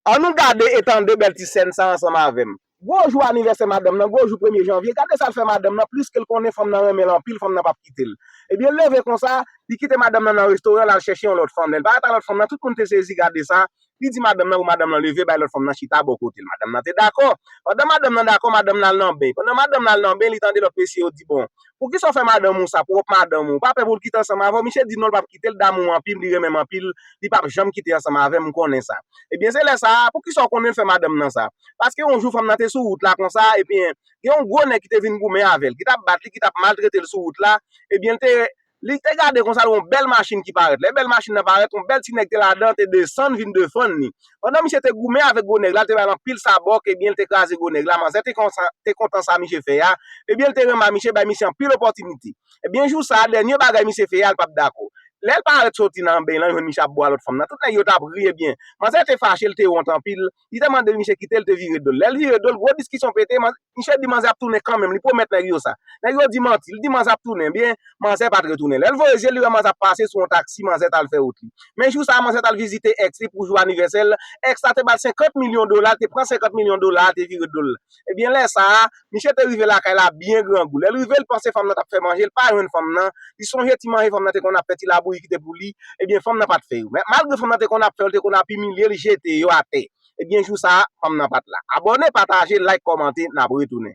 An nou gade e tande bèl ti sèn sa ansanm avè m. Gwo jou anivèsè madanm nan, gwo jou premye janvye, gade sa l fè madanm nan, pliske l konnen fanm nan renmen l anpil, fanm nan p ap kite l. Ebyen l leve konsa, li kite madanm nan nan restoran l al chèche yon lòt fanm. Lè l parèt a lòt fanm nan, tout moun te sezi gade sa, li di madanm nan pou madanm nan leve bay lòt fanm nan chita bò kote l. Madanm nan te dakò. Pandan madanm nan dakò, madanm nan al nan ben. Pandan madanm nan al nan ben, li tande lòt mesye yo di bon, Poukisa w fè madanm ou sa, pwòp madanm ou? Ou pa pè pou l kite ansanm avè w? Misye di non l pa p kite l, l damou m anpil, li renmen m anpil, li pa p janm kite ansanm avè m, m konnen sa. Ebyen se lè sa a, poukisa w konnen l fè madanm nan sa? Paske yon jou fanm nan te sou wout la konsa, ebyen gen yon gwo nèg ki te vin goumen avè l, ki t ap bat li, ki t ap maltrete l sou wout la, ebyen l te, li te gade konsa l wè yon bèl machin ki parèt, lè bèl machin nan parèt, yon bèl ti nèg te ladan, te desann vin defann li. Pandan misye te goumen avèk gwo nèg la, l te ba l anpil sabòk, ebyen l te kraze gwo nèg la, manzè te kontan, te kontan sa misye fè a, ebyen l te renmen a misye bay misye anpil opòtinite. Ebyen jou sa a, dènye bagay misye fè a l pap dakò. Lè l parèt soti nan beny lan, l jwenn misye ap bo a lòt fanm nan, tout nèg yo tap ri ebyen, manzè te fache, l te wont anpil, li te mande l misye kite l te vire do l. Lè l vire do l, gwo diskisyon pete, manzè. Misye di manzè ap tounen kanmenm, li pwomèt nèg yo sa. Nèg yo di manti, li di manzè ap tounen, ebyen, manzè pa t retounen. Lè l voye je l, li wè manzè ap pase sou yon taksi, manzè t al fè wout li. Men jou sa a, manzè t al vizite ex li pou jou anivèsè l, ex la te ba l 50 milyon dola, l te pran 50 milyon dola a, te vire do l. Ebyen, lè sa a, misye te rive lakay la byen grangou. Lè l rive, l panse fanm nan t ap fè manje, l pa jwenn fanm nan, li sonje ti manje fanm nan te konn ap fè, ti labouyi ki te pou li, ebyen, fanm nan pa t fè yo. Malgre fanm nan te konn ap fè yo, l te konn ap imilye l, jete yo atè. Ebyen jou sa fanm nan pat la. Abòne pataje like kòmante nap retounen.